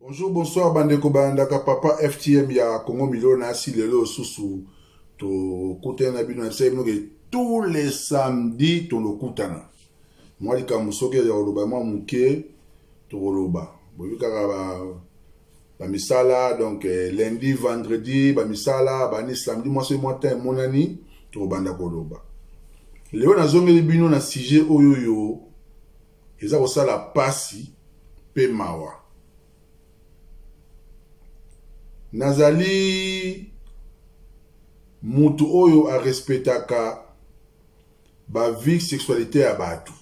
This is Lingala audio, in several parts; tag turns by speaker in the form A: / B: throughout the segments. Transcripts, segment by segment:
A: Bonjour, bonsoir bandeko balandaka papa FTM ya Congo Milo na asi lelo susu tokutana na bino na bisai bino ke tous les samedi tolokutana mwa likambo soki ya koloba mwa moke tokoloba boyebi kaka ba bamisala donc eh, lundi vendredi bamisala bani samedi mwa soki mwa temps emonani tokobanda koloba lelo nazongeli bino na sujet oyo yo Eza kosala pasi pe mawa. Nazali mutu oyo a respectaka ba vie sexualite ya batu.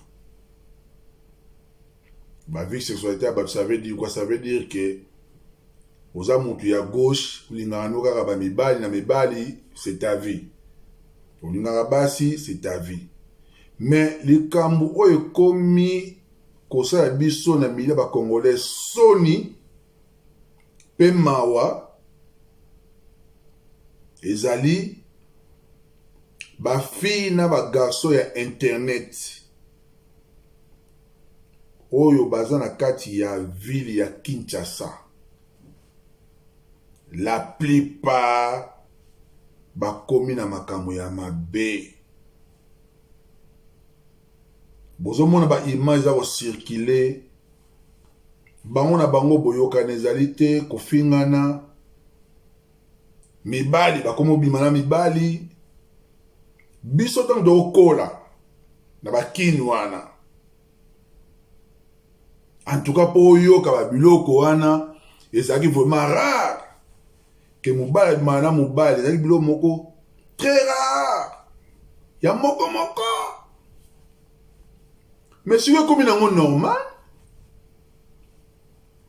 A: Ba vie sexualite ya batu ça veut dire quoi? Ça veut dire que oza mutu ya gauche olingaka no kaka ba mibali na mibali c'est ta vie. Olingaka basi c'est ta vie. Mais likambu oyo ekomi kosala biso na milieu ba congolais soni pe mawa ezali ba filles na ba garçons ya internet oyo baza na kati ya ville ya Kinshasa la plupart bakomi na makambo ya mabe bozomona ba image eza kocircule bango na bango boyokana ezali te kofingana mibali bakomi obima na mibali biso ntango tokokola na bakini wana antuka mpo oyoka babiloko wana ezalaki vraiment rare ke mobali abimaka na mobali ezali biloko moko très rare ya moko moko mais soki ekomi nango normal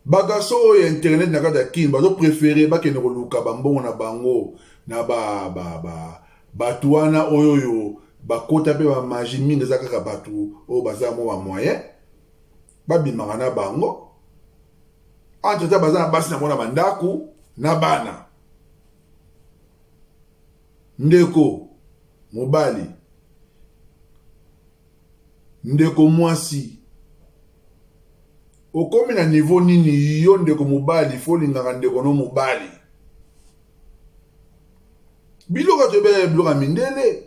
A: bagarso oyo ya internet na kati ya kin bazoprefere bakende koluka bambongo na bango na ba, ba, ba, bato wana oyo oyo bakota mpe bamagi mingi eza kaka bato oyo baza mwa bamoyen babimaka na bango Entre-temps, baza na basi na mwana bandako na bana. Ndeko mobali, ndeko mwasi, okomi na niveau nini yo ndeko mobali fo olingaka ndeko no mobali? biloko toyebela biloko ya mindele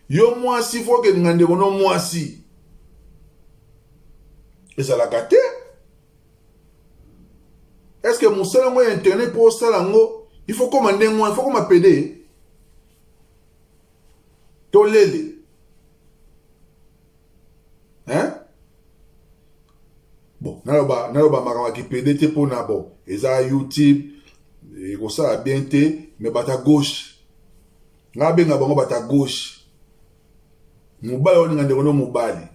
A: yo mwasi fo okelinga ndeko no mwasi ezalaka te estce que mosala yango ya internet mpo osala yango il faut koma ndenge wana il faut koma pede tolele hein bon naloba naloba makambo ya kipede te mpo na bon eza youtube ekosala bien te mais bata gauche ngai abenga bango bata gauche mobali olinga ndeko no mobali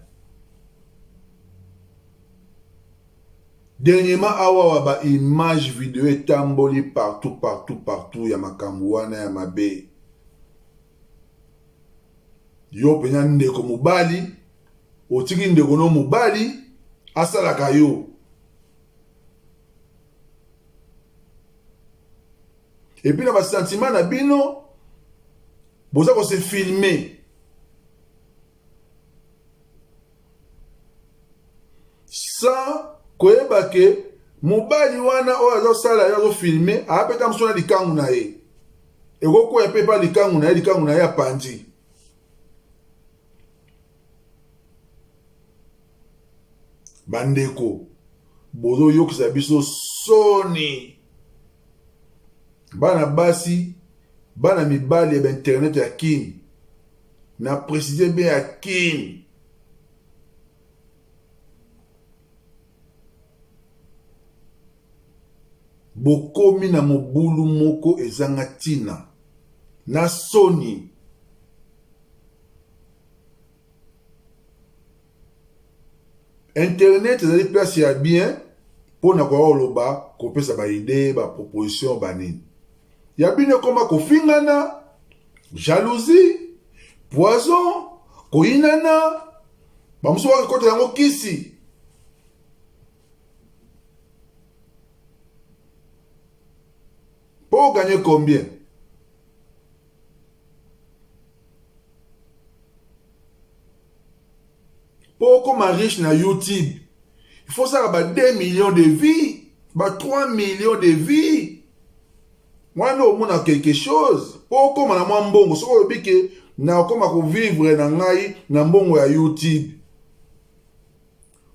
A: dernièrement awawa baimage video etamboli partout partout partout ya makambo wana ya mabe yo mpenza ndeko mobali otiki ndeko no mobali asalaka yo epuis na basentima na bino boza kose filme sans koyeba ke mobali wana oyo azosala ye azofilme aapeta mosu na likangu na ye ekokwea mpe epa likangu na ye likangu na ye apanzi bandeko bozoyokisa biso soni bana basi bana mibali ya bainternet ya kin na preside be ya kin bokomi na mobulu moko ezanga ntina na soni internet ezali place ya bien mpo na koya koloba kopesa baide baproposition banini ya bino ekoma kofingana jalousie poison koyinana bamosusu bakakota yango kisi mpo oganye combien mpo okoma riche na youtube il faut osala ba 2 millions de vie ba 3 millions de vie wana omona quelque chose mpo okoma na mwa mbongo soki olobi ke nakoma kovivre na ngai na mbongo ya youtube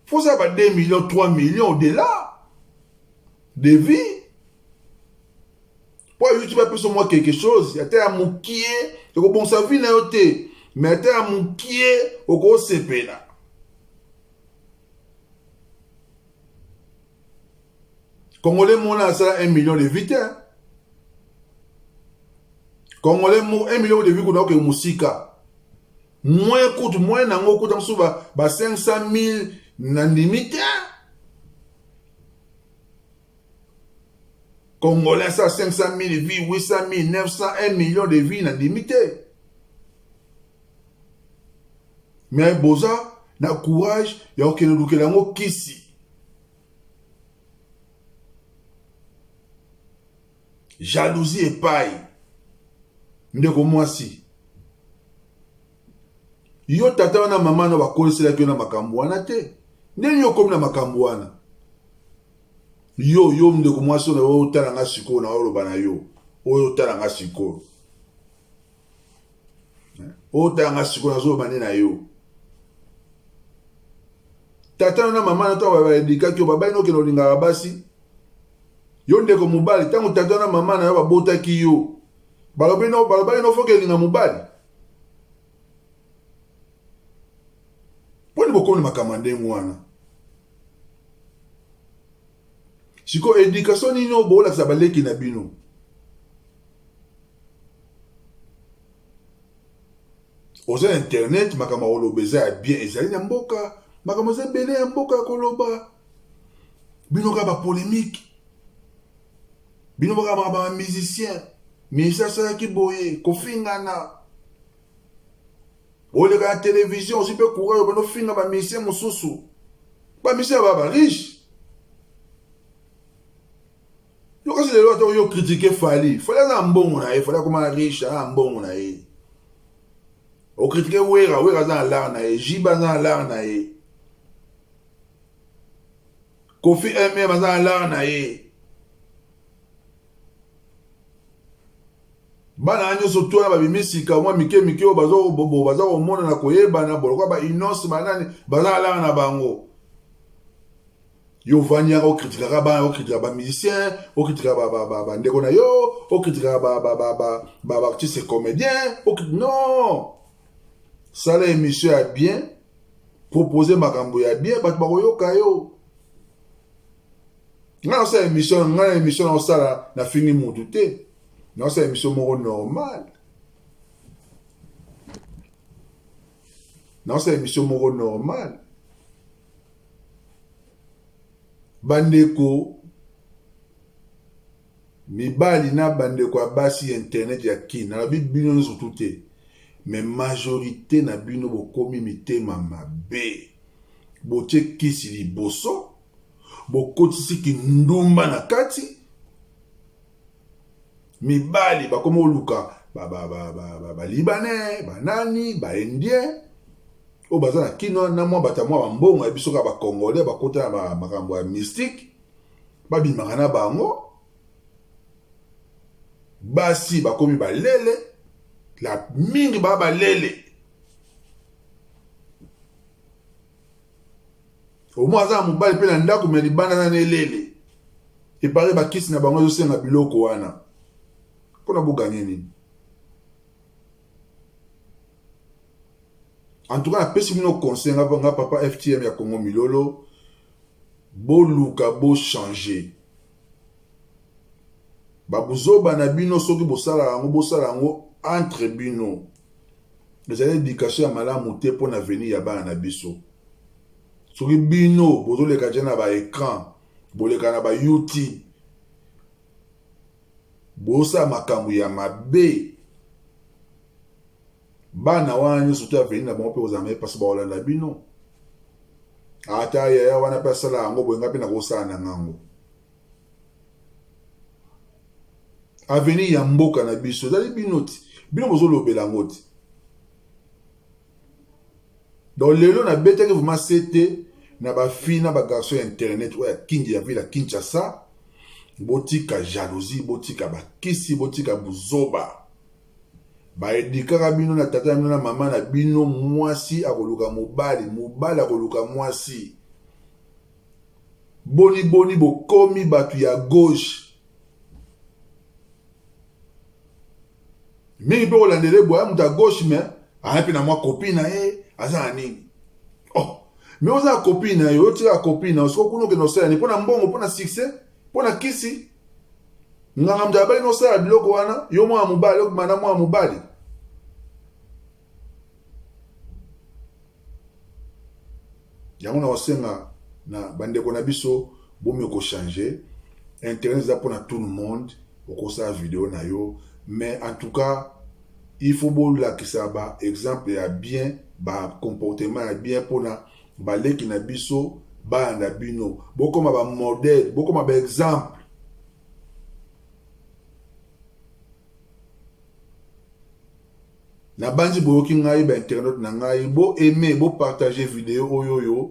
A: faut ça ba 2 millions 3 millions au-delà de vie mpo ayuti bapesa mwa quelque chose ata ya mokie ekobongisa vi na yo te me ata ya mokie okosepela congolais mona asala 1 million de vie te congolais mo 1 million de vie kuna okee mosika moyen kutu moyen na yango okuta mosusu ba 500 000 nandimi te Congolais asala 500 000 vie 800 000 900 1 million de vie nandimi te me boza na courage ya kokende lukela yango kisi jalousie epai ndeko mwasi yo tata wana mama na bakoliselaki yo na makambo wana te ndenge yo okomi na makambo wana Yo, yo ndeko mwasi oyo nayo otala nga sikoyo na oloba na yo. Oyo otala nga sikoyo. Oyo otala nga sikoyo nazo loba nde na yo. Tata na mama na to ba ba edikaki yo babali nokende olingaka basi. Yo ndeko mobali ntango tata na mama na yo babotaki yo balobi no balobaki no foki elinga mobali mponi bokomi makambo ya ndenge wana siko education nini oyo bolakisa baleki na bino oza internet makambo ya koloba eza ya bien ezali na mboka makambo eza ebele ya mboka ya koloba bino kaka bapolemike bino kaka makambo ya musicien minisi asalaki boye kofingana oleka na television ozwi mpe courage obanda ofinga bamisien mosusu bamisien ya baba riche yo kasi lelo ata oyo okritike fali fali aza na mbongo na ye fali akoma riche aza na mbongo na ye okritike wera wera aza na lar na ye jiba aza na lar na ye kofi mm aza na lar na ye Bana na nyoso twana babimi sika mwa mike mike oyo baza bobo baza komona na koyebana bolokwa ba innos banani baza na langa na bango yo ovandi yaka okritikaka bana okritika bamusicien okritika bandeko na yo okritika baartiste comédien non sala émission ya bien propose makambo ya bien bato bakoyoka yo ngai nasala émission ngai na émission naosala nafingi motu te naosala emission moko normal naosala emission moko normal bandeko mibali na bandeko ya basi ya internet ya kin nalobi bino nyonso tu te me majorité na bino bokomi mitema mabe botie kisi liboso bokotisi kindumba na kati mibali bakomi koluka balibanais banani baindien oyo baza na kino na mwa bato ya mwa bambongo ya biso kaka bacongolais bakota na makambo ya mystique babimaka na bango basi bakomi balele la mingi baa balele omo aza na mobali mpe na ndako me libanda na nelele epare bakisi na bango ezosenga biloko wana mpona boganye nini en tout cas napesi bino conseil nga nga papa ftm ya congo milolo boluka bochange Ba buzoba na bino soki bosalaka yango bosala yango entre bino. Ezali education ya malamu te mpo na avenir ya bana na biso. Soki bino bozoleka je na ba ecran, boleka na ba YouTube, bosala makambo ya mabe bana wana nyonso to aveni na bango mpe kozala maye mpasi bakolanda bino ata yaya wana mpe asala yango boye ngai mpe nakosala na ngango aveni ya mboka na biso ezali bino ti bino bozolobela yango ti donc lelo nabetaki vraimen sete na bafina bagarçon ya internet oyo ya kingi ya ville ya kinshasa botika jalousie botika bakisi botika buzoba Ba edikaka bino na tata na bino na mama na bino mwasi akoluka mobali mobali akoluka mwasi boni boni bokomi bato ya gauche mingi mpe kolandela eboya moto ya gauche me aya mpe na mwa kopi na ye aza na nini oh me oza kopi na ye oyotika kopi na yo soko kuna okende osala nini mpo na mbongo mpo na succès mpo na kisi nganga moto abali nosala biloko wana yo mwana mobali okima na mwana mobali yango na kosenga na bandeko na biso bomi kochange internet eza mpo na tout le monde okosala video na yo mais en tout cas il faut bolakisa ba exemple ya bien ba comportement ya bien mpo na Baleki na biso bayanda bino, bokoma ba modèle, bokoma ba exemple. nabanzi boyoki ngai ba internaute na ngai bo aime bo partage video oyo oyo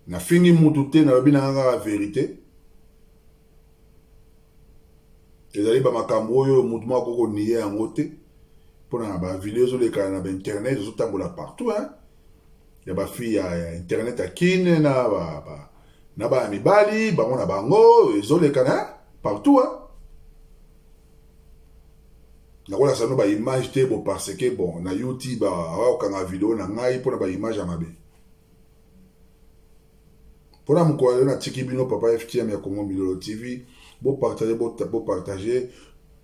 A: nafingi mutu te nalobi na ngai kaka verite ezali bamakambo oyo moto moko akoki koniye yango te mpona na bavideo ezolekana na bainternet ezotambola partout hein? ya bafille ya, ya internet ya kine na ba, ba, na bana mibali bango na bango ezolekana hein? partout hein? nakolakisa bino baimage te bo parce que bon na youtube akokanga video na ngai mpona baimage ya mabe Pona mokolo yo natiki bino papa FTM ya Congo Milolo TV, bo partager bo, bo partager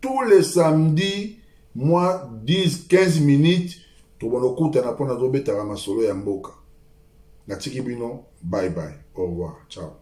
A: tous les samedis moi 10 15 minutes tobanda okutana mpo nazobetaka masolo ya mboka. Natiki bino, bye bye, au revoir, ciao.